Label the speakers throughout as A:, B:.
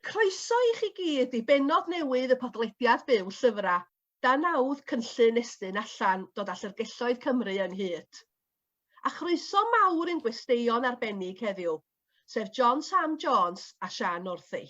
A: Croeso i chi gyd i benod newydd y podlediad byw Llyfrau, dan nawdd cynllun Estyn Allan, dod â llyfrgelloedd Cymru ynghyd. A chroeso mawr i'n gwesteion arbennig heddiw, sef John Sam Jones a Siân Northey.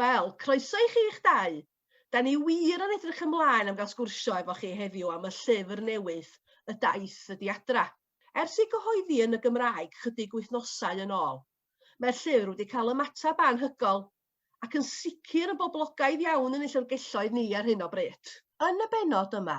A: Wel, croeso i chi'ch dau! Da ni wir yn edrych ymlaen am gael sgwrsio efo chi heddiw am y llyfr newydd, Y Daith Ydi Adra. Ers ei gyhoeddi yn y Gymraeg chydig wythnosau yn ôl, mae'r llyfr wedi cael ymateb anhygoel, ac yn sicr yn boblogaidd iawn yn ein llyfrgelloedd ni ar hyn o bryd. Yn y bennod yma,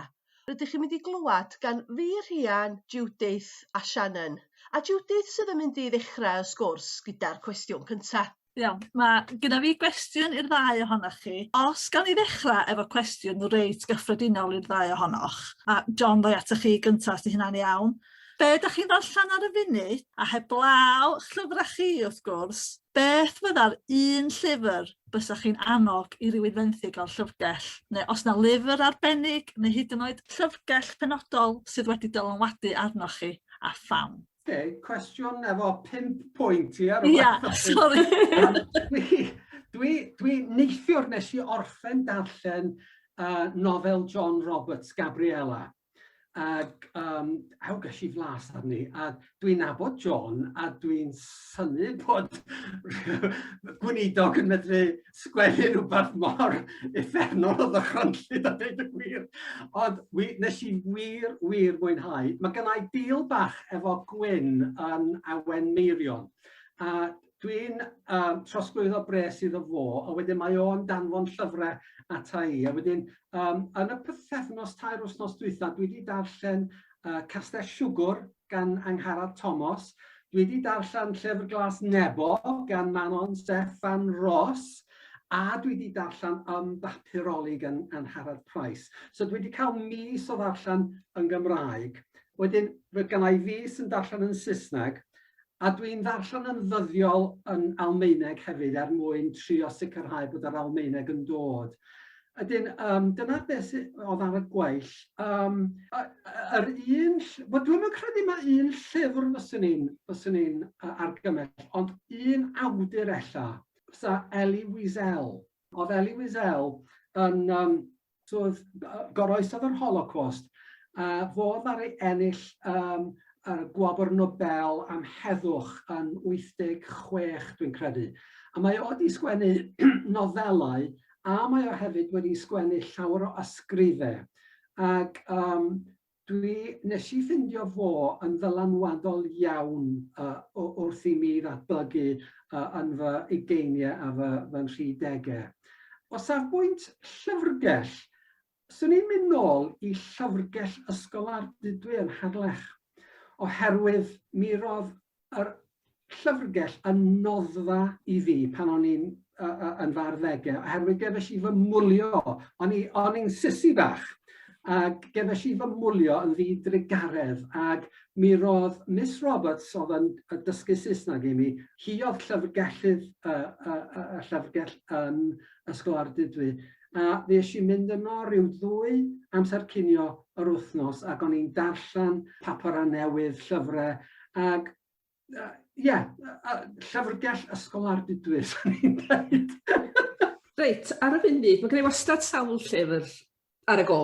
A: rydych chi'n mynd i glywed gan fi, Rhian, Judith a Shannon, a Judith sydd yn mynd i ddechrau y sgwrs gyda'r cwestiwn cyntaf. Iawn, mae
B: gyda fi gwestiwn i'r ddau ohonoch chi. Os gawn ni ddechrau efo cwestiwn reit gyffredinol i'r ddau ohonoch, a John ddoi atoch chi gyntaf os hynna'n iawn. Be ydych chi'n ddarllen ar y funud, a heblaw llyfrau chi wrth gwrs, beth fydda'r un llyfr bysach chi'n annog i rywun fenthyg o'r llyfrgell? Neu os na lyfr arbennig, neu hyd yn oed llyfrgell penodol sydd wedi dylanwadu arnoch chi, a pham? Oce, cwestiwn
C: efo pimp pwynt i ar y Ia, sori.
B: Dwi,
C: dwi neithiwr nes i orffen darllen uh, nofel John Roberts, Gabriella. Ac um, aw ges i flas arni, a dwi'n nabod John, a dwi'n synu bod gweinidog yn medru sgwennu rhywbeth mor effernol o ddychrynllyd a dweud y gwir. Ond wi, nes i wir, wir mwynhau. Mae gynna i deal bach efo Gwyn yn Awen Meirion. A dwi'n um, trosglwyddo bres iddo fo, a wedyn mae o'n danfon llyfrau ata i. A wedyn, um, yn y pythefnos tair wythnos dwytha, dwi wedi darllen uh, Castell Siwgwr gan Angharad Tomos. Dwi wedi darllen Llyfr Glas Nebo gan Manon Steffan Ros a dwi wedi darllen Ym Bapuroli gan Angharad Price. So dwi wedi cael mis o ddarllen yn Gymraeg. Wedyn roedd gennau fis yn darllen yn Saesneg A dwi'n ddarllen yn ddyddiol yn Almaeneg hefyd er mwyn trio sicrhau bod yr Almaeneg yn dod. Ydyn, um, dyna beth sydd oedd ar y gweill. Um, yr un, wel dwi'n yn credu mae un llyfr fyswn i'n fyswn i'n argymell, ond un awdur ella, fysa Elie Wiesel. Oedd Elie Wiesel yn, um, twf, goroesodd yr Holocost, a fo ddaru ennill um, y Gwobr Nobel am heddwch yn 86, dwi'n credu. A mae o wedi sgwennu nofelau, a mae o hefyd wedi sgwennu llawer o ysgrifau. Ac um, Dwi, nes i ffindio fo yn ddylanwadol iawn uh, wrth i mi ddatblygu uh, yn fy ugeiniau a fy, fy nhridegau. O safbwynt llyfrgell, swn i'n mynd nôl i llyfrgell Ysgol Ardudwy yn Harlech, oherwydd mi roedd A'r llyfrgell yn noddfa i fi pan o'n i'n yn fy arddegau, oherwydd gefais i fy mwlio, o'n i'n sisi bach, ac gefais i fy mwlio yn ddi drugaredd, ac mi roedd Miss Roberts oedd yn dysgu Saesneg i mi, hi oedd llyfrgellydd y llyfrgell yn Ysgol Ardudwy. a fuesh i'n mynd yno ryw ddwy amser cinio yr wythnos ac o'n i'n darllen papurau newydd, llyfrau ac Ie, yeah, llyfrgell ysgol ar didwyr, swn i'n dweud. Reit,
D: ar y funud, mae gennau wastad sawl llyfr ar y go.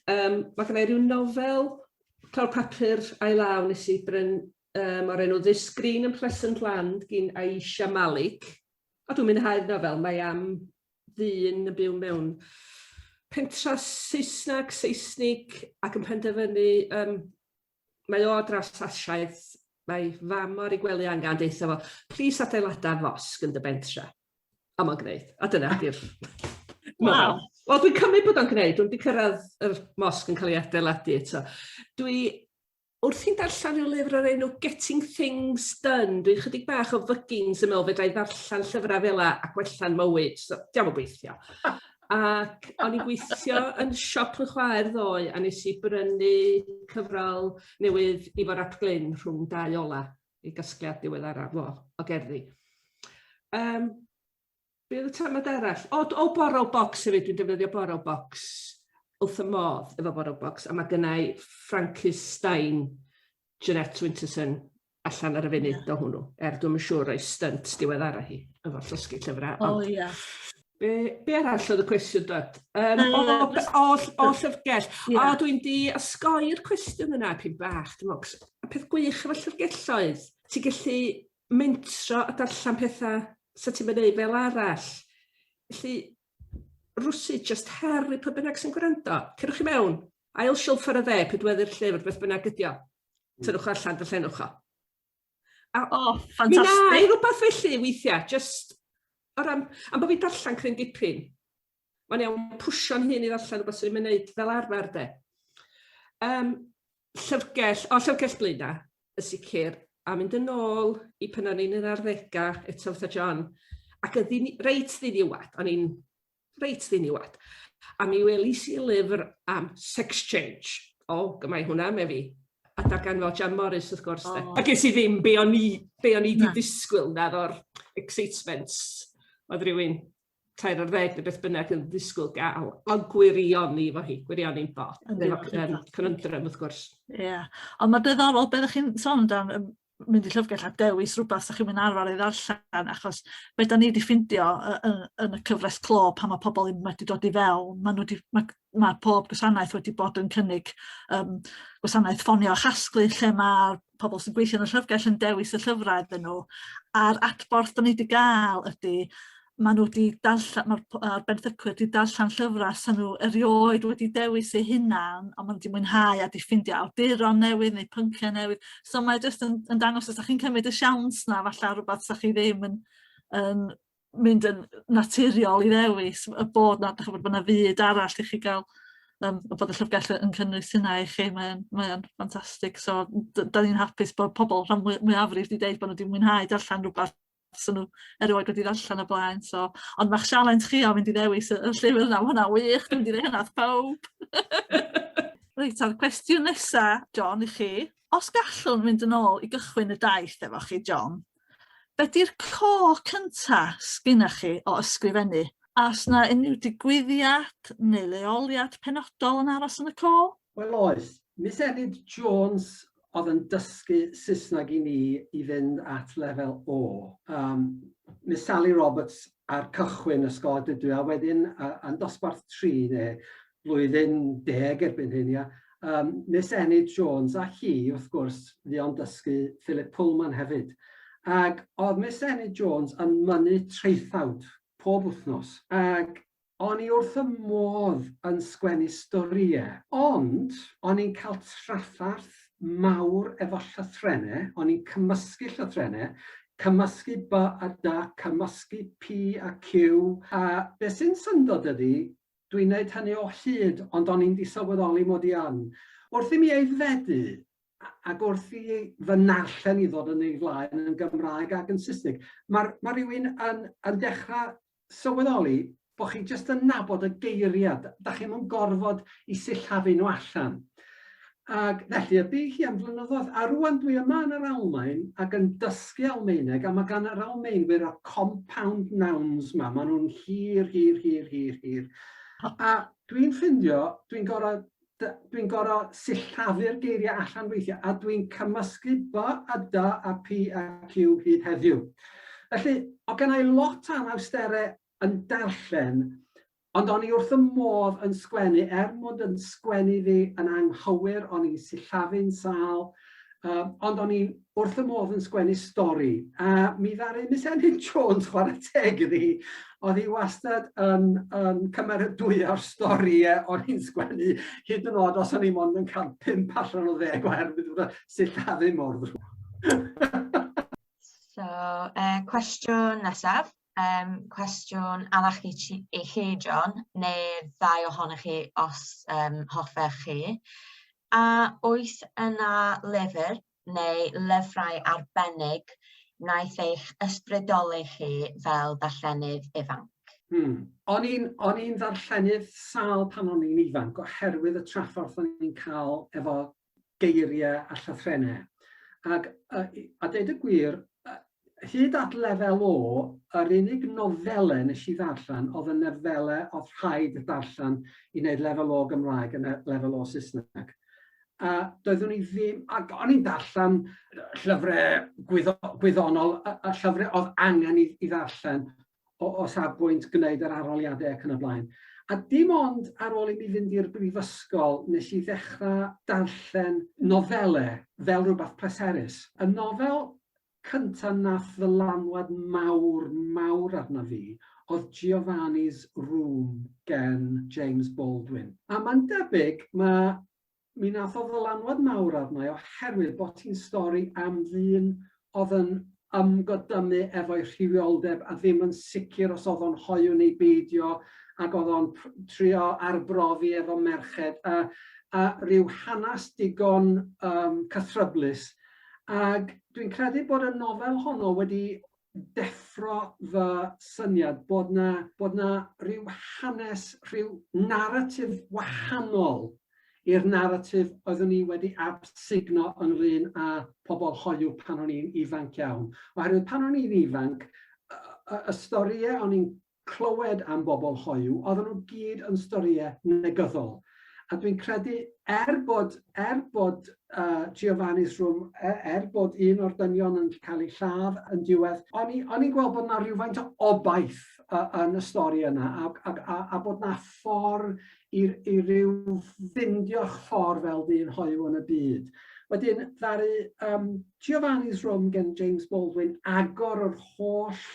D: Um, mae gennau rhyw nofel, clawr papur a'i law nes i bryn um, o'r enw This Green and Pleasant Land gyn Aisha Malik. A dwi'n mynd mwynhau'r nofel, mae am ddyn yn byw mewn pentra Saesneg, Seisnig, ac yn penderfynu, um, mae o draws asiaeth, mae fam ar ei gwely angen deitha fo, plis adeilada fosg yn dy bentra. A mae'n gwneud, a dyna di'r... Wow. Wel, dwi'n cymryd bod o'n gwneud, dwi'n wedi cyrraedd yr mosg yn cael ei adeiladu eto. Dwi Wrth i'n darllen rhyw lyfr o'r enw Getting Things Done, dwi'n chydig bach o fyggins yn meddwl fedrai ddarllen llyfrau fela a gwella'n mywyd, so diom yn gweithio. Ac o'n i'n gweithio yn siop fy chwaer ddoe a nes i brynu cyfrol newydd Ifor ap Glyn rhwng dau ola, ei gasgliad diweddaraf fo o gerddi. Yym. Be oedd y termed arall? O, o borrow box hefyd, dwi'n defnyddio borrow box wrth y modd efo borrow box, a mae gennau Francis Stein, Jeanette Winterson, allan ar y funud yeah. o hwnnw, er dwi'n yn siŵr o'i stunt diweddara hi, efo llosgi llyfrau. O, oh, ia. Yeah.
B: Be, be
D: arall oedd y cwestiwn dod? Um, uh, o, o, o, o llyfrgell. Yeah. O, dwi'n di osgoi'r cwestiwn yna, pyn bach. Dwi'n meddwl, y peth gwych efo llyfrgelloedd, ti'n gallu mentro a darllen petha' 'sa ti'm yn neud fel arall. Felly rwsud jyst her i pwy bynnag sy'n gwrando. Cerwch i mewn, ail silff ar y dde, pedwerydd llyfr, beth bynnag ydi o. Tynwch o allan, darllenwch o. A, o,
B: oh, ffantastig. Mi
D: rhywbeth felly weithiau, jyst o ran, am bod fi'n darllen cryn dipyn, Mae'n iawn pwsio'n hun i ddarllen rhywbeth sydd ddim yn neud fel arfer de. Um, llyfrgell, o llyfrgell Blaena, y sicr, a mynd yn ôl i pan o'n i'n yr arddegau, eto fatha John, ac y ddyn, reit ddiniwad, o'n i'n reit ddiniwad. A mi welis i lyfr am sex change. O, gymau hwnna, me fi. A darganfod Jan Morris, wrth gwrs. Oh. A ges i ddim be o'n i, be o'n i di disgwyl na o'r excitement. Oedd rhywun tair ar ddeg neu beth bynnag yn ddisgwyl gael, a gwirioni fo hi, gwirioni'n bod, efo cynnyndrym wrth gwrs. Ie, yeah. ond mae
B: dyddorol beth ydych chi'n sôn dan um, mynd i llyfrgell a dewis rhywbeth ydych chi'n mynd arfer ei ddarllen, achos beth da ni wedi ffindio yn, yn y cyfres clo pan mae pobl yn wedi dod i fewn, maen nhw wedi, mae mae pob gwasanaeth wedi bod yn cynnig um, gwasanaeth ffonio a chasglu lle mae pobl sy'n gweithio yn y llyfrgell yn dewis y llyfrau iddyn nhw. A'r adborth da ni wedi gael ydy, maen nhw wedi darllen, mae'r benthycwyr wedi darllen llyfrau sy'n nhw erioed wedi dewis eu hunan, ond maen nhw wedi mwynhau a wedi ffeindio awduron newydd neu pynciau newydd. So mae jyst yn, yn dangos os da chi'n cymryd y siawns na, falle rhywbeth da chi ddim yn, yn mynd yn naturiol i ddewis y bod na, chybod, bod na fyd arall i chi gael um, a bod y llyfrgell yn cynnwys hynna i chi, mae'n mae ffantastig. So, da ni'n hapus bod pobl rhan mwyafrif wedi dweud bod nhw wedi mwynhau darllen rhywbeth sy'n nhw erioed wedi ddarllen y blaen. So, ond mae'ch sialens chi o fynd i ddewis y, y llyfr yna, mae hwnna wych, dwi'n dweud hynna pawb. Reit, a'r cwestiwn nesaf, John, i chi. Os gallwn mynd yn ôl i gychwyn y daith efo chi, John, be di'r core cynta sgynnoch chi o ysgrifennu? A oes na unrhyw digwyddiad neu leoliad penodol yn aros yn y core? Wel oes,
C: Miss Enid Jones oedd yn dysgu Saesneg i ni i fynd at lefel O, um, Miss Sally Roberts ar cychwyn ysgol a dydw i, a wedyn uh, yn dosbarth tri neu blwyddyn deg erbyn hyn, ia. Yym, Miss Enid Jones, a hi, wrth gwrs, fuo'n dysgu Philip Pullman hefyd. Ac oedd Miss Enid Jones yn mynnu traethawd pob wythnos. Ac o'n i wrth y modd yn sgwennu storie. Ond, o'n i'n cael traffarth mawr efo llythrene, o'n i'n cymysgu llythrene, cymysgu by a dy, cymysgu pi a ciw, a be' sy'n syndod ydi, Dwi'n neud hynny o hyd, ond o'n i'n disylweddoli mod i yn. Wrth i mi aeddfedu, ac wrth i fy narllen i ddod yn ei flaen yn Gymraeg ac yn Saesneg, mae ma rhywun yn, yn dechrau sylweddoli bod chi jyst yn nabod y geiriau, da chi'n yn gorfod i sillafu nhw allan. Ac felly y bu hi am flynyddoedd, a rŵan dwi yma yn yr Almaen ac yn dysgu Almaeneg, a mae gan yr Almaenwyr y compound nouns 'ma, maen nhw'n hir, hir, hir, hir, hir. A dwi'n ffindio, dwi'n gorau dwi'n gorau sillafu'r geiriau allan weithiau, a dwi'n cymysgu b a d a p a q hyd heddiw. Felly, o' gennai lot o anawsterau yn darllen, Ond o'n i wrth y modd yn sgwennu, er mod yn sgwennu fi yn anghywir, o'n i'n sillafu'n sâl, um, ond o'n i'n wrth y modd yn sgwennu stori. A mi ddaru Miss Enid Jones, chwarae teg iddi hi, oedd hi wastad yn, yn cymeradwyo'r stori e, o'n i'n sgwennu, hyd yn oed os o'n i'n ond yn cael pimp allan o ddeg oherwydd bod y sillafu mor ddrwg.
E: so, uh, cwestiwn nesaf. um, cwestiwn arall i, chi, i chi, John, neu ddau ohonych chi os um, hoffech chi. A oes yna lyfr neu lyfrau arbennig wnaeth eich ysbrydoli chi fel darllenydd ifanc? Hmm.
C: O'n i'n on ddarllenydd sal pan o'n i'n ifanc oherwydd y trafforth o'n i'n cael efo geiriau a llythrennau. Ac a, a dweud y gwir, hyd at lefel o, yr unig nofelau nes i ddarllen oedd y nofelau oedd rhaid darllen i wneud lefel o Gymraeg yn lefel o Saesneg. A doeddwn i ddim, ac o'n i'n darllen llyfrau gwyddo, gwyddonol, y, y llyfrau oedd angen i, i ddarllen, o, o safbwynt gwneud yr arholiadau ac yn y blaen. A dim ond ar ôl i mi fynd i'r brifysgol nes i ddechrau darllen nofelau fel rhywbeth pleserus. Y nofel cyntaf nath ddylanwad mawr, mawr arna fi oedd Giovanni's Room gen James Baldwin. A mae'n debyg mae Mi nath o ddylanwad mawr arna i oherwydd bod hi'n stori am ddyn oedd yn ymgodymu efo'i rhywioldeb a ddim yn sicr os oedd o'n hoyw neu beidio ac oedd o'n trio arbrofi efo merched a a rhyw hanes digon um, cythryblus. Ac dwi'n credu bod y nofel honno wedi deffro fy syniad bod 'na bod 'na ryw hanes, rhyw naratif wahanol i'r naratif oeddwn ni wedi absugno ynglyn â pobl hoyw pan o'n i'n ifanc iawn. Oherwydd pan o'n i'n ifanc, y y y storïau o'n i'n clywed am bobl hoyw, oedden nhw gyd yn storie negyddol. A dwi'n credu, er bod, er bod uh, Giovanni's Room, er, er bod un o'r dynion yn cael ei lladd yn diwedd, o'n i'n gweld bod yna rhywfaint o obaith uh, yn y stori yna, a, a, a, a bod yna ffordd i, i ryw ffindio'ch ffordd fel dyn hoyw yn y byd. Wedyn, ddaru um, Giovanni's Rome gan James Baldwin, agor yr holl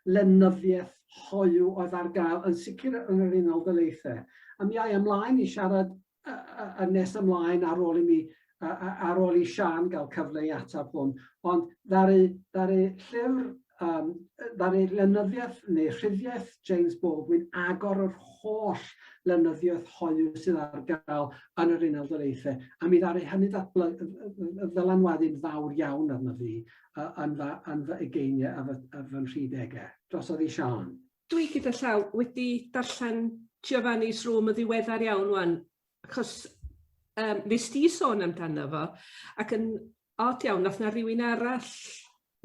C: lenyddiaeth hoyw oedd ar gael, yn sicr yn yr Unol Daleithiau. A mi a i ymlaen i siarad yn nes ymlaen ar ôl i mi, ar ôl i Siân gael cyfle i ateb hwn, ond ddaru llyfr um, ddaru lenyddiaeth neu rhyddiaeth James Baldwin agor yr holl lenyddiaeth hoyw sydd ar gael yn yr Unol Daleithiau, a mi ddaru hynny ddylanwadu'n fawr iawn arno fi uh, yn, fa, yn fy egeiniau a fy, a fy nhridegau. Drosodd i Sian. Dwi gyda llaw
D: wedi darllen Giovanni's Room y ddiweddar iawn wan, achos um, nes di sôn amdano fo, ac yn Od iawn, nath na rywun arall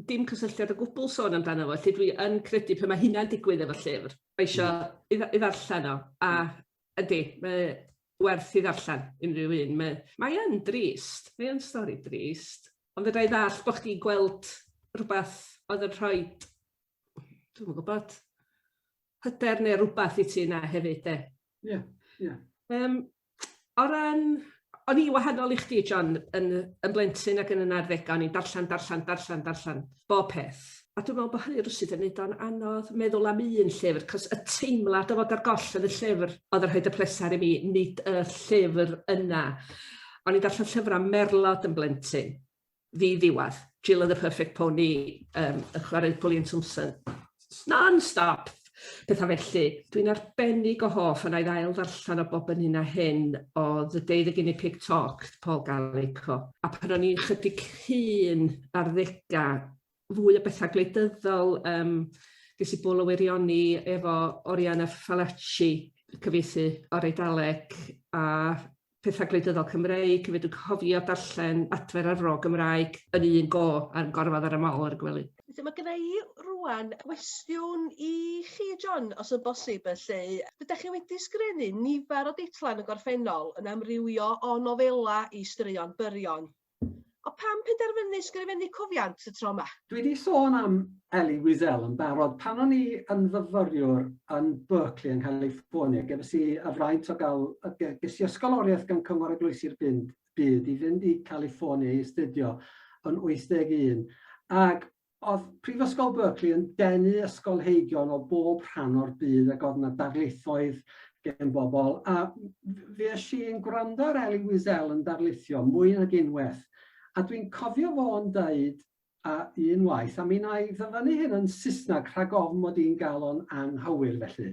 D: dim cysylltiad o gwbl sôn amdano fo, felly dwi yn credu pan mae hynna'n digwydd efo llyfr, mae isio i, i ddarllen o, a ydy, mae werth i ddarllen unrhyw un. Mae, mae yn drist, mae yn stori drist, ond fydda i ddall bod chdi'n gweld rhywbeth oedd yn rhoi, dwi'n yn gwybod, hyder neu rhywbeth i ti yna hefyd de. Ie, yeah, ie. Yeah.
C: Um,
D: o ran... O'n i'n wahanol i chdi John yn yy yn blentyn ac yn yn arddega o'n i'n darllan darllan darllan darllan bob peth a dwi me'wl bo' hynny rywsut yn neud o'n anodd meddwl am un llyfr 'c'os y teimlad o fod ar goll yn y llyfr odd yn rhoid y pleser i mi nid y llyfr yna. O'n i'n darllan llyfra' merlod yn blentyn ddi ddiwedd. Jill oedd y perfect pony, um, y chwarae Pwlian Thompson. Non-stop! Pethau felly. Dwi'n arbennig o hoff yna i ddael ddarllen o bob yn hyn a hyn o The Day the Guinea Pig Talked, Paul Gallico. A pan o'n i'n chydig hun ar ddega, fwy o bethau gwleidyddol, um, ges i bol o wirioni efo Oriana Fallaci, cyfieithu o'r Eidaleg, a pethau gwleidyddol Cymreig, fe dwi'n cofio darllen adfer ar fro Gymraeg yn un go ar gorfod ar y mol ar y gwely. Felly mae gyda i
A: rwan gwestiwn i chi John, os yn bosib felly. Dydych chi wedi sgrenu nifer o deitlau yn y gorffennol yn amrywio o nofela i straeon byrion. O pam penderfynu sgrifennu cofiant y tro yma? Dwi di sôn am
C: Elie Wiesel yn barod, pan o'n i yn fyfyriwr yn Berkeley yn California, gefais i y fraint o gael, ges i ysgoloriaeth gan Cyngor Eglwysi'r Byd i fynd i California i astudio yn 81, ac Oedd Prifysgol Berkeley yn denu ysgolheigion o bob rhan o'r byd ac oedd yna darlithoedd gen bobl a fues i'n gwrando ar Elie Wiesel yn darlithio mwy nag unwaith a dwi'n cofio fo'n dweud a un waith, a mi wna i ddyfynnu hyn yn Saesneg rhag ofn mod i'n gael o'n anghywir felly,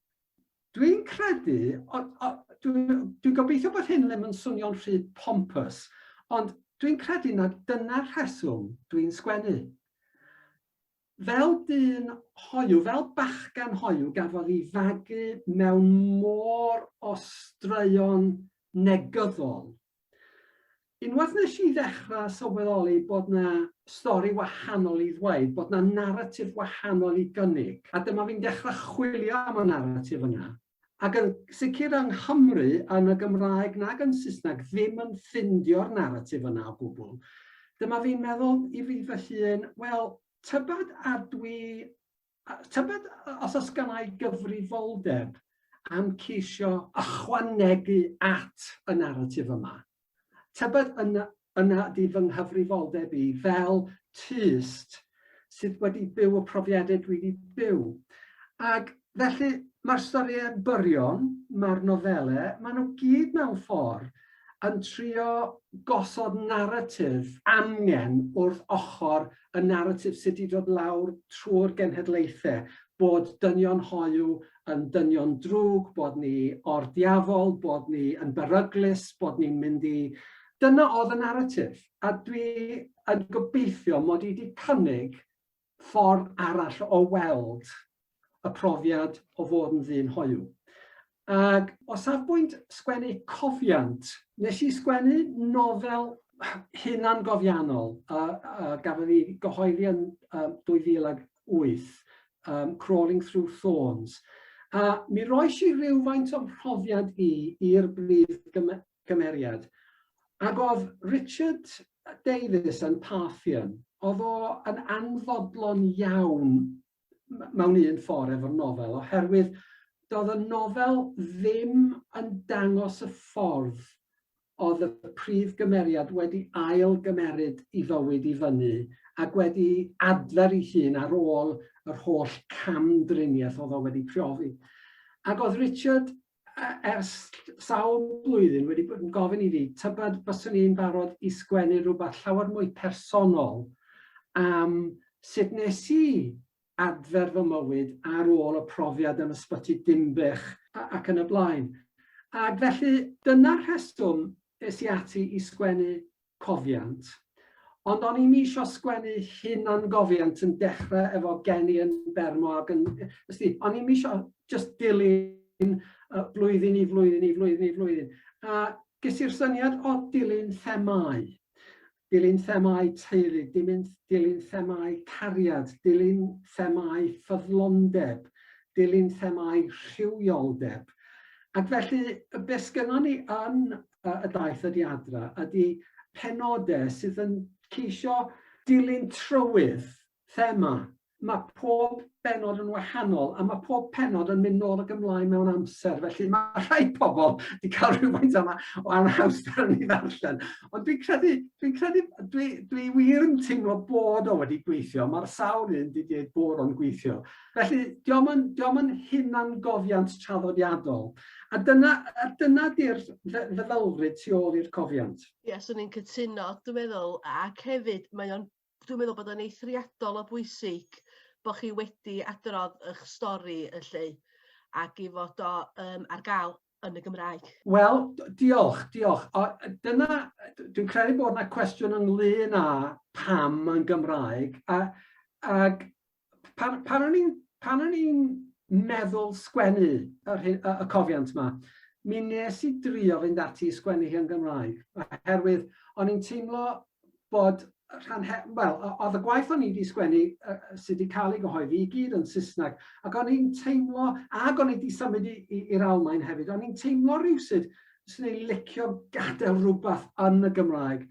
C: Dwi'n credu, dwi'n gobeithio bod hyn ddim yn swnio'n rhy pompous, ond dwi'n credu na dyna'r rheswm dwi'n sgwennu. Fel dyn hoyw, fel bachgen hoyw, gafodd i fagu mewn môr o straeon negyddol, Unwaith nes i ddechra sylweddoli bod 'na stori wahanol i ddweud, bod 'na naratif wahanol i gynnig, a dyma fi'n dechra chwilio am y naratif yna, ac yn sicr yng Nghymru, yn y Gymraeg nag yn Saesneg, ddim yn ffindio'r naratif yna o gwbl, dyma fi'n meddwl i fi fy hun, wel, tybed a dwi A tybed os oes gennai gyfrifoldeb am ceisio ychwanegu at y naratif yma? Tybed yna yna ydy fy nghyfrifoldeb i fel tyst sydd wedi byw y profiadau dwi wedi byw? Ac felly, mae'r storïau byrion, mae'r nofelau, maen nhw gyd mewn ffordd yn trio gosod naratif amgen wrth ochr y naratif sy' 'di dod lawr trwy'r genhedlaethau, bod dynion hoyw yn dynion drwg, bod ni o'r diafol, bod ni yn beryglus, bod ni'n mynd i... Dyna oedd y naratif, a dwi yn gobeithio mod i 'di cynnig ffordd arall o weld y profiad o fod yn ddyn hoyw. Ac o safbwynt sgwennu cofiant, nes i sgwennu nofel hunan gofiannol a, a gafodd ei gyhoeddi yn um, 2008, um, Crawling Through Thorns. A mi roes i rhywfaint o'm mhrofiad i i'r brif gymeriad. Ac oedd Richard Davies yn Parthian, oedd o yn anfodlon iawn mewn un ffordd efo'r nofel, oherwydd doedd y nofel ddim yn dangos y ffordd oedd y prif gymeriad wedi ail gymeryd i fywyd i fyny ac wedi adfer ei hun ar ôl yr holl cam-driniaeth oedd o wedi profi. Ac oedd Richard ers sawl blwyddyn wedi bod yn gofyn i fi, tybed byswn i'n barod i sgwennu rhywbeth llawer mwy personol am sut nes i adfer fy mywyd ar ôl y profiad yn Ysbyty Dinbych ac yn y blaen. Ac felly, dyna'r rheswm es i ati i sgwennu cofiant. Ond o'n i'm isio sgwennu hunangofiant yn dechre efo gen i yn Bermo ac yn... Ysdi, o'n i'm isio just dilyn uh, blwyddyn i flwyddyn i flwyddyn i flwyddyn. A ges i'r syniad o dilyn themau. Dilyn themau teulu, dilyn, dilyn themau cariad, dilyn themau ffyddlondeb, dilyn themau rhywioldeb. Ac felly, beth sgynnon ni yn uh, y daith ydi adra, ydi penodau sydd yn ceisio dilyn trywydd thema. Mae pob benod yn wahanol a mae pob penod yn mynd nôl ac ymlaen mewn amser. Felly mae rhai pobl wedi cael rhywfaint yma o anhawster yn ei ddarllen. Ond dwi'n credu, dwi'n credu, dwi, dwi wir yn teimlo bod o wedi gweithio. Mae'r sawl un wedi dweud bod o'n gweithio. Felly, diom yn, diom yn hunangofiant traddodiadol. A dyna, a dyna di'r feddylfryd tu ôl i'r cofiant. Ie, yeah, swn i'n cytuno,
A: dwi'n meddwl, ac hefyd, mae o'n, dwi'n meddwl bod o'n eithriadol o bwysig bod chi wedi adrodd eich stori yn lle ac i fod o um, ar gael yn y Gymraeg? Wel, diolch, diolch.
C: O, dyna, dwi'n credu bod yna cwestiwn ynglyn â pam yn Gymraeg. A, ag, pan, pan o'n i'n pan o'n i'n meddwl sgwennu y, y, y cofiant yma, mi nes i drio fynd ati i sgwennu hi yn Gymraeg, oherwydd o'n i'n teimlo bod rhan he- wel o- o'dd y gwaith o'n i 'di sgwennu yy yy sy 'di ca'l ei gyhoeddi i gyd yn Sysnag ac o'n i'n teimlo ag o'n i 'di symud i i i'r Almaen hefyd o'n i'n teimlo rywsut swn i'n licio gadel rwbath yn y Gymraeg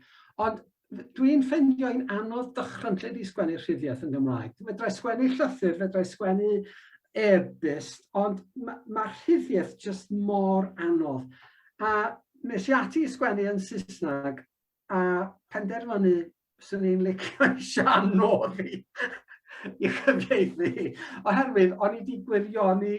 C: ond f- dwi'n ffeindio hi'n anodd dychrynllyd i sgwennu rhyddiaith yn Gymraeg. Fedrai sgwennu llythyr, fedrai sgwennu e-byst ond ma' ma' rhyddiaith jyst mor anodd a nes i ati i sgwennu yn Sysnag a penderfynu swn i'n licio i Sian nôl i i chyfieithu, oherwydd o'n i wedi gwirioni,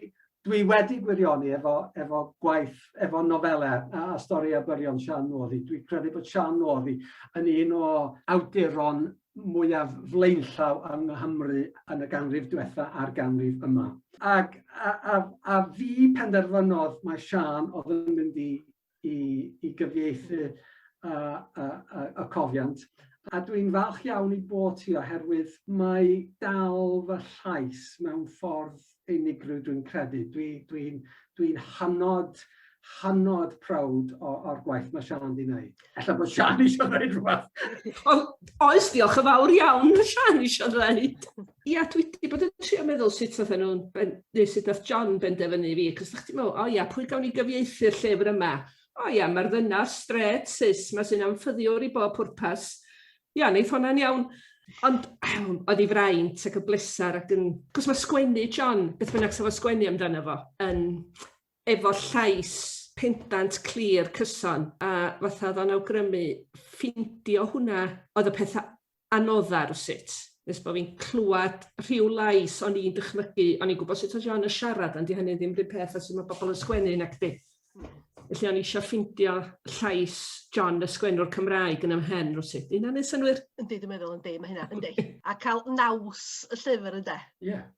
C: dwi wedi gwirioni efo, efo gwaith, efo nofelau a, a stori a byrion Sian Northy. Dwi'n credu bod Sian Northy yn un o awduron mwyaf flaenllaw yng Nghymru yn y ganrif diwetha a'r ganrif yma. Ac a, a, a fi penderfynodd mae Sian oedd yn mynd i i, i gyfieithu y, y, y, y cofiant. A dwi'n falch iawn i bod ti oherwydd mae dal fy llais mewn ffordd unigryw dwi'n credu. Dwi'n dwi, dwi, dwi hynod, hynod prawd o'r gwaith mae Sian di wneud. Ella bod Sian eisiau dweud rhywbeth. Ond oes, diolch
D: yn fawr iawn, Sian eisiau dweud. Ia dwi 'di bod yn trio meddwl sut fydden nhw'n ben- neu sut nath John benderfynu fi, cos o'ch ti'n meddwl, o ia, pwy gawn ni gyfieithu'r llyfr yma? O ia, mae'r ddynas strêt cis 'ma sy'n anffyddiwr i bob pwrpas. Ia, neith honna'n iawn. Ond oedd ei fraint ac yn bleser ac yn... Cos mae sgwennu John, beth bynnag sa fo'n sgwennu amdano fo, yn efo llais pendant clir cyson a fatha o'dd o'n awgrymu ffindio hwnna oedd y petha anodda rywsut nes bo' fi'n clwad rhyw lais o'n i'n dychmygu o'n i'n gwbo sut oedd Siân yn siarad ond 'di hynny ddim run peth a su' ma' bobol yn sgwennu nacdi? Felly o'n i isio ffindio llais John y sgwennwr Cymraeg yn 'y mhen rywsut. 'Di hynna'n neu' synnwyr? Yndi dwi'n meddwl yndi ma'
A: hynna yndi. A ca'l naws y llyfr ynde? Ie.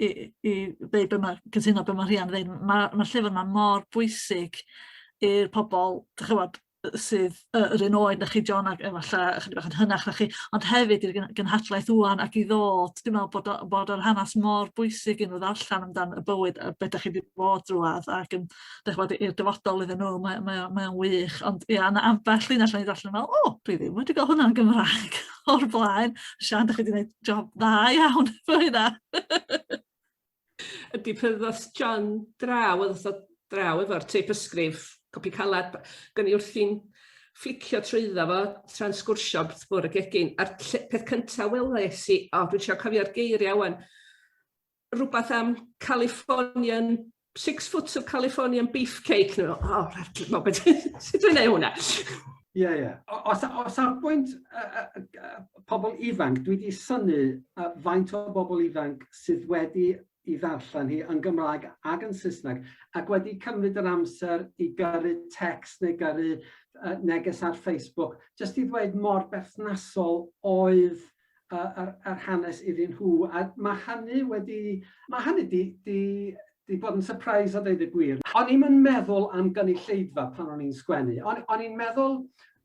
B: i, i ddeud be mae, cytuno be mae Rhian ddeud, mae'r ma llyfr yma mor bwysig i'r pobl, dychywod, sydd yr un oed na chi John ac efallai ychydig bach yn hynach na chi, ond hefyd i'r gynhadlaeth wwan ac i ddod, dwi'n meddwl bod, bod yr hanes mor bwysig i nhw ddarllen amdano y bywyd a beth da chi wedi bod drwad ac yn 'dych ch'mod i'r dyfodol iddyn nhw mae mae o mae o'n wych ond ia ma' ambell linell o'n i'n darllen fel o dwi ddim wedi ga'l hwnna yn Gymraeg o'r blaen. Siân 'dych chi 'di neud job dda iawn efo hynna.
D: Ydi pan ddoth John draw o'dd o draw efo'r teip ysgrif copi calad b- gawn ni wrthi'n fflicio trwyddo fo tra'n sgwrsio wrth bwr' y gegin a'r ll- peth cynta weles i o dwi isio cofio'r geiria' ŵan rwbath am Californian six foot of Californian beefcake nhw. O, oh, rhaid gwybod beth sydd yn ei hwnna. Ie, yeah, ie. Yeah.
C: O, o, o safbwynt uh, uh, pobl ifanc, dwi wedi syni uh, faint o bobl ifanc sydd wedi i ddarllen hi yn Gymraeg ac yn Saesneg, ac wedi cymryd yr amser i gyrru text neu gyrru uh, neges ar Facebook, jyst i ddweud mor berthnasol oedd yr hanes iddyn nhw a mae hynny wedi... mae hynny 'di bod yn sypreis a deud y gwir. O'n i'm yn meddwl am gynulleidfa pan o'n i'n sgwennu. O'n i'n meddwl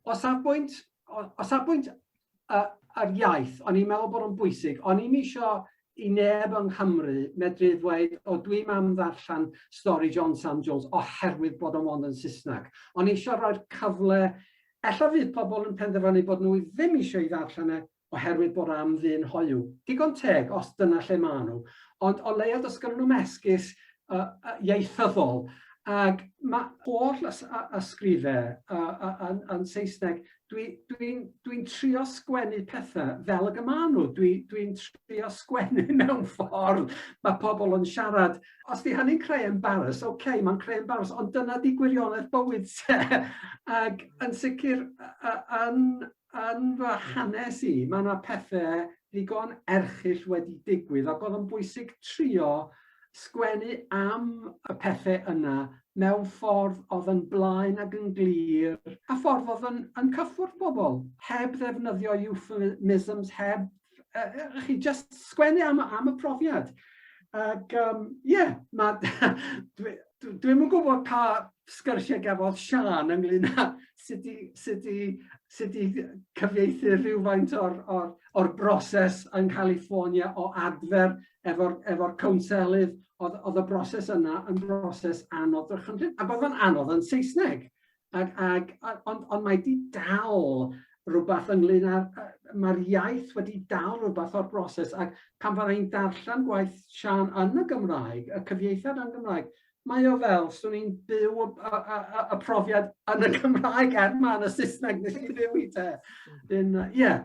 C: o safbwynt o safbwynt yr iaith o'n i'n meddwl bod o'n bwysig. O'n i'm isio i neb yng Nghymru medru ddweud o dwi'm am ddarllen stori John Sam Jones oherwydd bod o 'mond yn Saesneg. O'n i isio rhoi'r cyfle Ella fydd pobl yn penderfynu bod nhw ddim eisiau ei ddarllen e oherwydd bod am ddyn hoyw. Digon teg, os dyna lle maen nhw. Ond o leiaf does gennyn nhw'm esgus ieithyddol. Ac mae holl ysgrifau yn Saesneg, dwi'n trio sgwennu pethau fel y gymaen nhw. Dwi'n trio sgwennu mewn ffordd mae pobl yn siarad. Os 'di hynny'n creu embaras, ocê, mae'n creu embaras, ond dyna 'di gwirionedd bywyd te. Ac yn sicr yn yn fy hanes i, mae yna pethe ddigon erchyll wedi digwydd ac oedd yn bwysig trio sgwennu am y pethe yna mewn ffordd oedd yn blaen ac yn glir, a ffordd oedd yn yn cyffwrdd pobl, heb ddefnyddio euphemisms, heb uh, chi just sgwennu am, am y profiad. Ac, um, yeah, ma, dwi, dwi yn gwybod pa sgyrsiau gafodd Sian ynglyn â sut i, sut i, sut i cyfieithu rhywfaint o'r, or, or broses yn California o adfer efo'r efo cwnselydd, oedd, oedd y broses yna yn broses anodd ddychymryd, a bod yn anodd yn Saesneg. Ac, ac, ond, ond mae di dal rhywbeth ynglyn â, mae'r iaith wedi dal rhywbeth o'r broses, ac pan fydda i'n darllen gwaith Sian yn y Gymraeg, y cyfieithiad yn Gymraeg, mae o fel, swn i'n byw y, y, y, y profiad yn y Gymraeg er ma yn y Saesneg nes i fyw i te. Ie, yeah,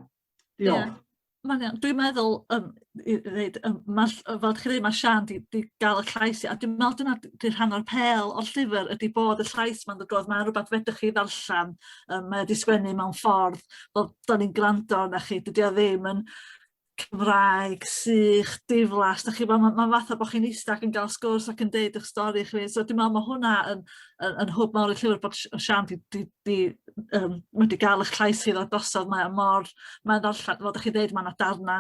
C: Diolch. Yeah. Mae'n iawn. Dwi'n meddwl,
B: um, i ddeud, um, ma, fel chi dweud, mae Sian di, di gael y llais, a dwi'n meddwl dyna di rhan o'r pel o'r llyfr ydy bod y llais mae'n dod oedd, mae'n rhywbeth fedrwch chi ddarllen, um, mae wedi sgwennu mewn ffordd, fel da ni'n gwrando na chi, dydy o ddim yn Cymraeg, sych, diflas, da chi, mae'n ma, ma fath o bod chi'n eistedd ac yn gael sgwrs ac yn deud eich stori chi, so dwi'n meddwl mae hwnna yn, yn, yn hwb mawr y llyfr bod Sian di, di di um, wedi gael eich llais chi ddod drosodd, mae mor, mae'n ddarllen, fel ydych chi dweud, mae yna darna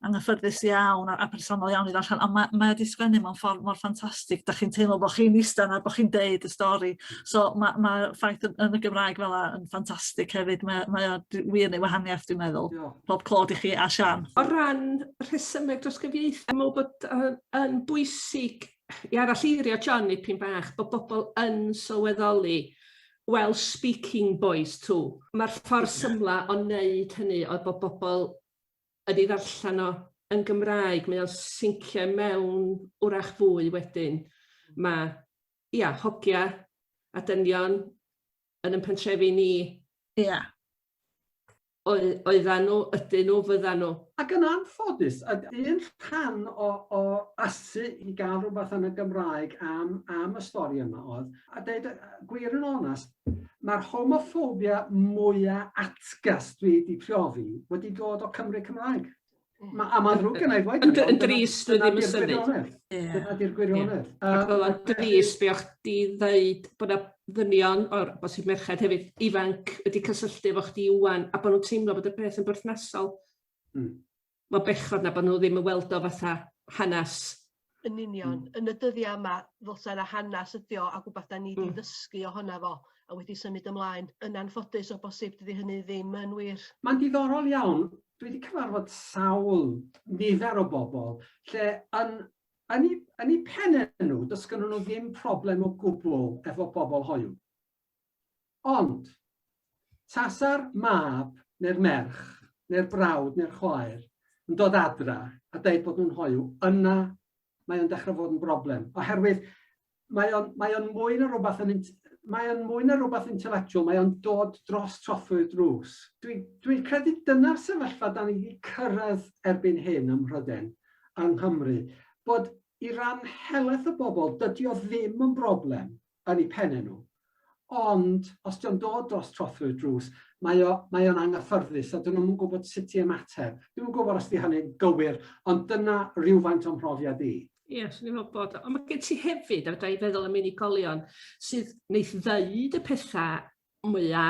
B: anghyffyrddus iawn a, a personol iawn i ddarllen, ond mae, mae wedi sgwennu mewn ffordd mor ffantastig, da chi'n teimlo bod chi'n eistedd a bod chi'n deud y stori, so mae, mae ffaith yn, yn y Gymraeg fel yna yn ffantastig hefyd, mae, mae o wir neu wahaniaeth dwi'n meddwl, yeah. pob clod i chi a Sian. O ran
D: rhesymeg dros gyfieithu, dwi'n meddwl bod uh, yn bwysig i arallirio John i pyn bach, bod bobl yn sylweddoli Wel speaking boys too. Mae'r ffordd symla o wneud hynny oedd bod bobl yn ei ddarllen o yn Gymraeg, mae o'n sincio i mewn 'w'rach fwy wedyn. Mae, ia, hogia a dynion yn ein pentrefi ni. Ia. oedd, oeddan nhw, ydyn nhw, fyddan nhw. Ac yn anffodus,
C: a un rhan o, o asu i gael rhywbeth yn y Gymraeg am, am y stori yma oedd, a dweud gwir yn onest, mae'r homophobia mwyaf atgas dwi wedi profi wedi dod o Cymry Cymraeg. Ma, a mae'n ddrwg gennau ddweud. Yn, yn drist, dwi ddim
D: yn synnu. Dyna di'r
C: gwirionedd. Ac oedd o'n
D: drist be o'ch di ddeud bod yna ddynion, o'r bosib merched hefyd, ifanc wedi cysylltu efo chdi iwan, a bod nhw'n teimlo bod y peth yn berthnasol. Mm. Mae bechod na bod nhw ddim yn weld o fatha hanes Yn union.
A: Mm. Yn y dyddiau yma, ddylsa yna hanes ydi o ac wbeth da ni wedi mm. ddysgu ohono fo a wedi symud ymlaen. Yn anffodus o bosib dydy hynny ddim yn wir. Mae'n diddorol iawn.
C: Dwi wedi cyfarfod sawl nifer o bobl lle yn, yn, eu, yn eu pennau nhw, does gynnu nhw ddim problem o gwbl efo pobl hoiw. Ond, tasa'r mab neu'r merch neu'r brawd neu'r chwaer yn dod adra a deud bod nhw'n hoyw, yna mae o'n dechrau fod yn broblem. Oherwydd mae o'n, mae o'n mwy na rhywbeth yn mae o'n mwy na rhywbeth intellectual, mae o'n dod dros trothwy'r drws. Dwi'n dwi credu dyna'r sefyllfa da ni wedi cyrraedd erbyn hyn ym Mhryden, yng Nghymru, bod i ran helaeth y bobl, dydy o ddim yn broblem yn eu penne nhw. Ond, os dio'n dod dros trothwy'r drws, mae o, mae o'n anghyffyrddus a dyn nhw'm yn gwybod sut i ymateb. Dwi'm yn gwybod os 'di hynny'n gywir, ond dyna rywfaint o'n mhrofiad i. Ie, yes, swn i'n meddwl bod.
D: Ond mae gen ti hefyd, a fydra i feddwl am unigolion, sydd wneith ddeud y pethau mwya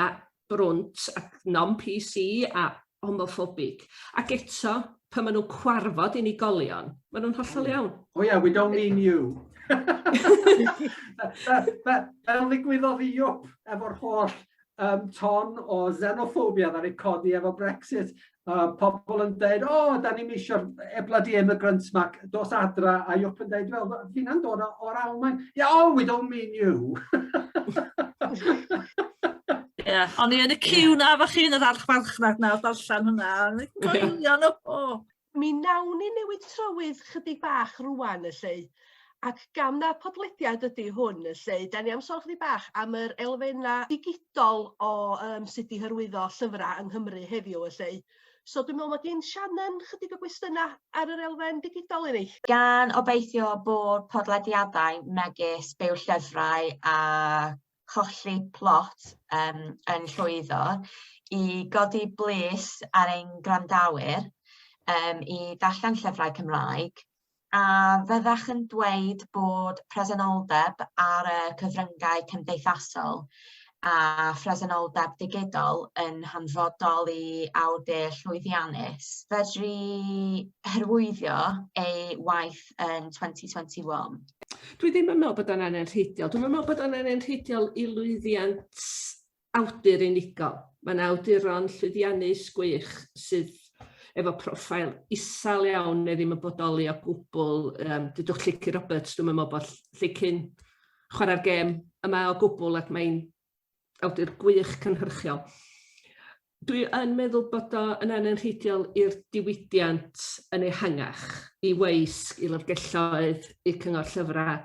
D: brwnt ac non-PC a homophobic ac eto pan ma' nw'n cwarfod unigolion ma' nw'n hollol iawn. Oh yeah we don't mean you.
C: Fel ddigwyddodd i UKIP efo'r holl um, ton o xenophobia ddaru codi efo Brexit a pobl yn dweud, o, oh, da ni'n eisiau e bloody immigrants mac, dos adra, a Iwp yn dweud, wel, fi na'n dod o'r Almain. Yeah, oh, we don't mean you. Ie, yeah,
B: o'n i yn y cyw na, fach chi yn yr archfarchnad na, darllen hwnna. Goelion o. Mi nawn
A: ni newid trywydd chydig bach rwan, y lle. Ac gan na podlediad ydy hwn 'lly, 'dan ni am sôn chydig bach am yr elfenna' digidol o yym sut i hyrwyddo llyfra' yng Nghymru heddiw 'lly. So dwi me'wl ma' gin Shannon chydig o gwestiyna' ar yr elfen digidol i ni. Gan obeithio
E: bod podlediadau megis Byw Llyfrau a Cholli Plot yym yn llwyddo i godi bwys ar ein gwrandawyr yym i ddarllen llyfrau Cymraeg A fyddech yn dweud bod presenoldeb ar y cyfryngau cymdeithasol a phresenoldeb digidol yn hanfodol i awdur llwyddiannus fedru hyrwyddo ei waith yn 2021? Dwi ddim yn
D: meddwl bod o'n anenrheidiol. Dwi'm yn meddwl bod o'n anenrheidiol i lwyddiant awdur unigol. Mae yna awduron llwyddiannus gwych sydd efo profile isel iawn neu ddim yn bodoli o gwbl. Um, dydwch Llici Roberts, dwi'n meddwl bod Llici'n chwarae'r gêm yma o gwbl ac mae'n awdur gwych cynhyrchiol. Dwi yn meddwl bod o yn anenrheidiol i'r diwydiant yn ehangach, i weisg, i lyfrgelloedd, i cyngor llyfrau,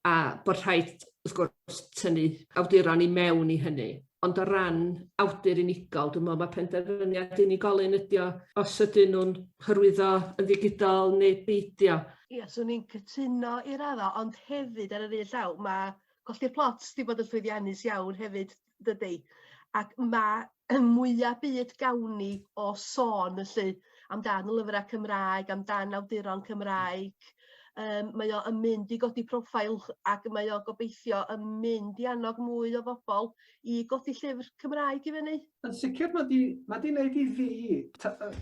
D: a bod rhaid, wrth gwrs, tynnu awduron i mewn i hynny. Ond o ran awdur unigol, dwi'n meddwl mae penderfyniad unigolyn ydy o, os ydyn nhw'n hyrwyddo yn ddigidol neu beidio. Ia, swn i'n
A: cytuno i raddau, ond hefyd ar yr un llaw, mae colli'r plot wedi bod yn llwyddiannus iawn hefyd. dydi? Ac mae y mwyaf byd gawn ni o sôn felly amdan y lyfrau Cymraeg, amdan awduron Cymraeg. Um, mae o yn mynd i godi profil ac mae o gobeithio yn mynd i annog mwy o bobl i godi llyfr Cymraeg i fyny. Yn sicr, mae di,
C: mae di wneud i fi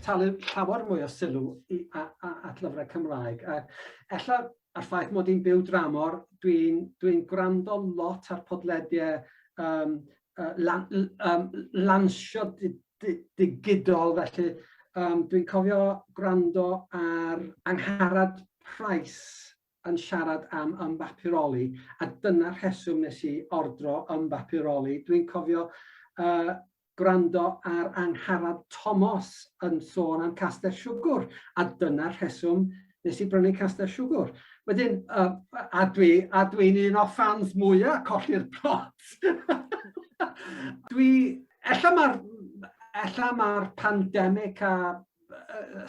C: talu llawer mwy o sylw i, a, a, at lyfrau Cymraeg. A ella a'r ffaith mod i'n byw dramor, dwi'n dwi gwrando lot ar podlediau um, uh, lan, um, lansio di, di, digidol, felly um, dwi'n cofio gwrando ar Angharad Price yn siarad am ymbapuroli, a dyna'r rheswm nes i ordro ymbapuroli. Dwi'n cofio uh, gwrando ar Angharad Tomos yn sôn am Castell Siwgwr, a dyna'r rheswm nes i brynu Castell Siwgwr. Wedyn, uh, a dwi'n a dwi un o ffans mwyaf colli'r plot. dwi, ella mae'r ella mae'r pandemig a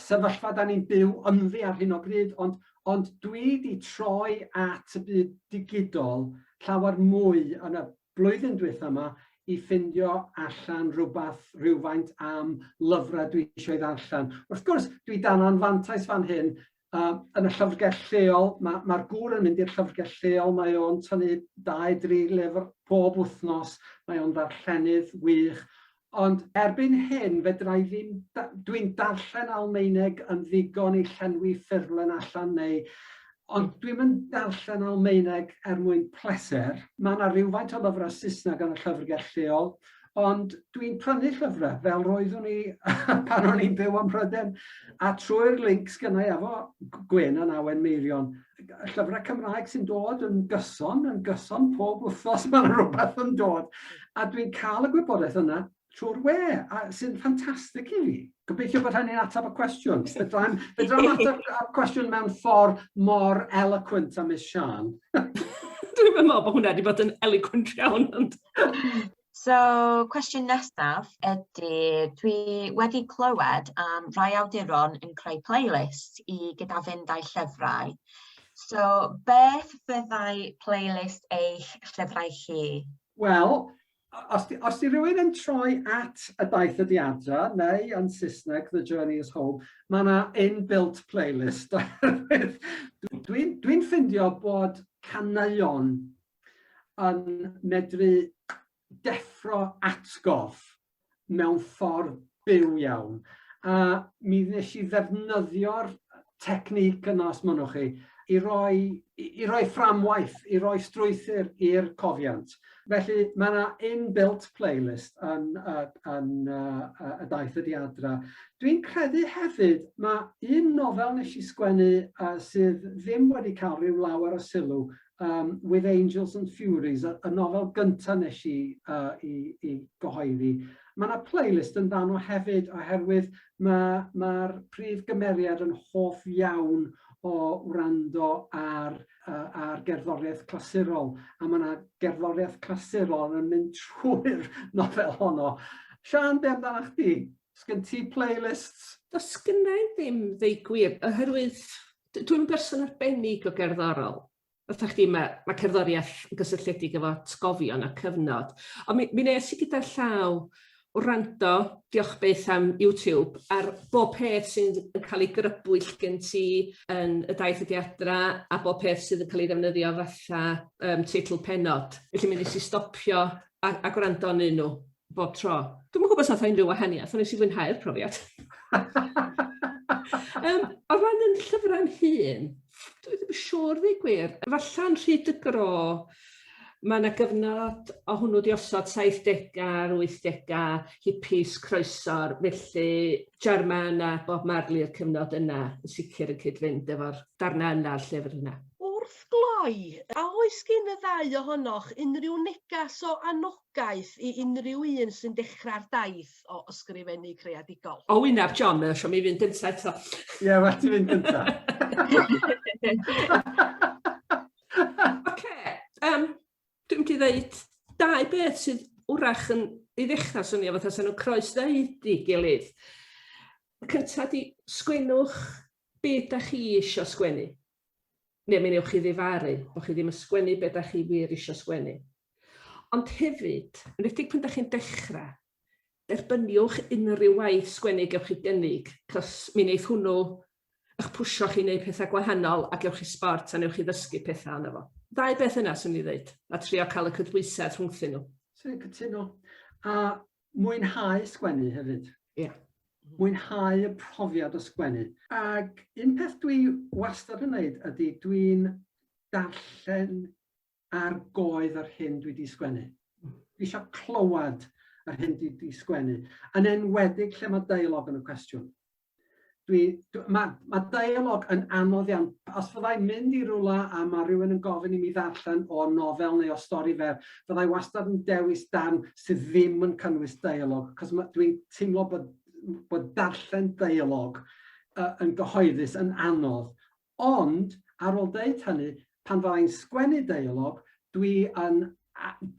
C: sefyllfa da ni'n byw ynddi ar hyn o bryd, ond, ond dwi wedi troi at y byd digidol llawer mwy yn y blwyddyn dwetha ma i ffindio allan rhywbeth rhywfaint am lyfrau dwi eisiau ei ddarllen. Wrth gwrs, dwi dan anfantais fan hyn, uh, yn y llyfrgell lleol, mae'r ma, ma gŵr yn mynd i'r llyfrgell lleol, mae o'n tynnu 2-3 lyfr pob wythnos, mae o'n ddarllenydd wych, Ond erbyn hyn fedra i ddim, dwi'n darllen Almaeneg yn ddigon i llenwi ffurflen allan neu, ond dwi'm yn darllen Almaeneg er mwyn pleser. Mae 'na rywfaint o lyfrau Saesneg yn y llyfrgell lleol, ond dwi'n prynu llyfrau fel roeddwn i pan o'n i'n byw ym Mhrydain, a trwy'r linc sgynnai efo Gwyn yn Awen Meirion, y llyfrau Cymraeg sy'n dod yn gyson, yn gyson pob wythnos mae yna rhywbeth yn dod. A dwi'n cael y gwybodaeth yna trwy'r we, a sy'n ffantastig i fi. Gobeithio bod hynny'n ateb y cwestiwn. Fedra i'n ateb y cwestiwn mewn ffordd mor eloquent a Miss Sian. Dwi'n
D: meddwl bod hwnna wedi bod yn eloquent iawn.
E: So, cwestiwn nesaf ydy, dwi wedi clywed am rai awduron yn creu playlist i gyda fynd â'i llyfrau. So, beth fyddai playlist eich llyfrau chi? Wel,
C: os di, os di rhywun yn troi at y daith ydi adra, neu yn Saesneg, The Journey is Home, mae yna inbuilt playlist. Dwi'n dwi, dwi ffindio bod caneuon yn medru deffro atgof mewn ffordd byw iawn. A mi nes i ddefnyddio'r technique yna, os mynnwch chi, i roi, i, i roi fframwaith, i roi strwythyr i'r cofiant. Felly mae yna inbuilt playlist yn, uh, yn uh, y daith ydi adra. Dwi'n credu hefyd, mae un nofel nes i sgwennu uh, sydd ddim wedi cael rhyw lawer o sylw yym With Angels and Furies, y y nofel gynta' nesh i yy 'i 'i gyhoeddi. Ma' 'na playlist yn fan 'no hefyd oherwydd ma' ma'r prif gymeriad yn hoff iawn o wrando ar yy ar gerddoriaeth clasurol, a ma' 'na gerddoriaeth clasurol yn mynd trwy'r nofel honno. Siân, be' amdanach chdi? Sgyn ti playlists? Does gynnai
D: ddim ddeu gwir, oherwydd Dwi'n berson arbennig o gerddorol. Fatha chdi, mae, mae cerddoriaeth yn gysylltiedig efo atgofion a cyfnod. Ond mi, mi nes i gyda llaw wrando, diolch beth am YouTube, ar bob peth sy'n cael ei grybwyll gen ti yn y daith ydi adra a bob peth sydd yn cael ei ddefnyddio fatha um, teitl penod. Felly mi nes i stopio a, a gwrando yn un nhw. bob tro. Dwi'm yn gwybod os a'th o unrhyw wahaniaeth, ond nes i fwynhau'r profiad. um, o ran yn llyfrau'n hun, dwi ddim yn siŵr ddeu gwir, efallai'n rhy dygro Mae yna gyfnod o hwnnw wedi osod 70au 80au hippies croeso'r felly German a Bob Marley i'r cyfnod yna yn sicr yn cyd-fynd efo'r darnau yna o'r llyfr yna. Wrth gloi,
A: a oes gen y ddau ohonoch unrhyw negas o annog anogaeth i unrhyw un sy'n dechrau'r daith o ysgrifennu creadigol? O, wyneb John, mae o
D: eisiau mi fynd gyntaf eto. Ie, yeah, well ti fynd
C: gyntaf. Oce, um,
D: dwi'n mynd i ddeud dau beth sydd wrach yn i ddechrau swnio fatha sy'n nhw'n croes ddeud i gilydd. Y cyntaf di, sgwennwch beth da chi eisiau sgwennu. Ne mi newch chi ddifaru bo chi ddim yn sgwennu be da chi wir isio sgwennu. Ond hefyd, enwedig pan da chi'n dechra, derbyniwch unrhyw waith sgwennu gewch chi gynnig, cos mi neith hwnnw ych pwsio chi i neud petha gwahanol a gewch chi sbort a newch chi ddysgu petha ono fo. Ddau beth yna swn i'n ddeud, a trio ca'l y cydbwysedd rhwngthyn nhw. Swn i'n cytuno.
C: A mwynhau sgwennu hefyd. Ia.
D: Mwynhau
C: y profiad o sgwennu. Ac un peth dwi wastad yn neud ydi dwi'n darllen ar goedd yr hyn dwi 'di sgwennu. Dwi isio clywed yr hyn dwi 'di sgwennu, yn enwedig lle mae deialog yn y cwestiwn. Dwi, dwi, mae, mae dialog yn anodd iawn. Os fyddai'n mynd i rwla a mae rhywun yn gofyn i mi ddarllen o nofel neu o stori fer, fyddai wastad yn dewis darn sydd ddim yn cynnwys dialog, cos dwi'n teimlo bod, bod darllen dialog uh, yn gyhoeddus yn anodd, Ond, ar ôl deud hynny, pan fydda i'n sgwennu deialog, dwi yn,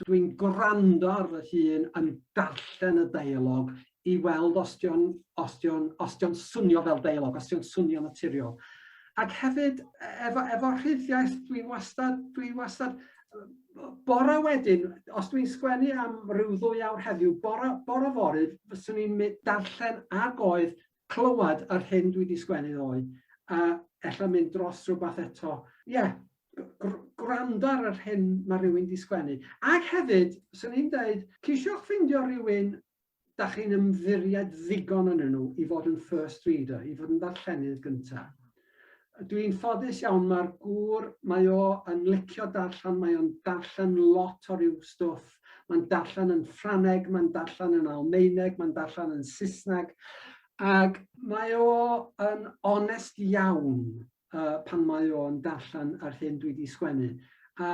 C: dwi'n gwrando ar fy hun yn darllen y deialog i weld os 'di o'n, os 'di o'n, os 'di o'n swnio fel deialog, os 'di o'n swnio'n naturiol. Ac hefyd, efo, efo rhyddiaith, dwi'n wastad, dwi wastad, bore wedyn, os dwi'n sgwennu am ryw ddwy awr heddiw, bore, bore fory, fyswn i'n darllen ag oedd clywed yr hyn dwi 'di sgwennu ddoe, a ella mynd dros rhywbeth eto. Ie, gwrando ar yr hyn mae rhywun 'di sgwennu. Ac hefyd, 'swn i'n deud, ceisiwch ffeindio rhywun da chi'n ymddiried ddigon ynnyn nhw i fod yn first reader, i fod yn ddarllenydd gynta. Dw i'n ffodus iawn mae'r gŵr mae o yn licio darllen mae o'n darllen lot o ryw stwff mae'n darllen yn Ffraneg mae'n darllen yn Almaeneg mae'n darllen yn Saesneg ac mae o yn onest iawn uh, pan mae o'n darllen yr hyn dwi wedi sgwennu a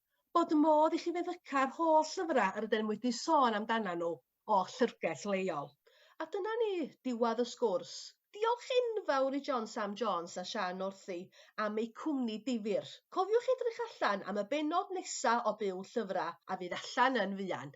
A: bod modd i chi feddyca'r holl lyfrau yr ydym wedi sôn amdanyn nhw o llyfrgell leol. A dyna ni, diwedd y sgwrs. Diolch enfawr i John Sam Jones a Siân Northey am eu cwmni difyr. Cofiwch edrych allan am y bennod nesa' o Byw Llyfrau a fydd allan yn fuan.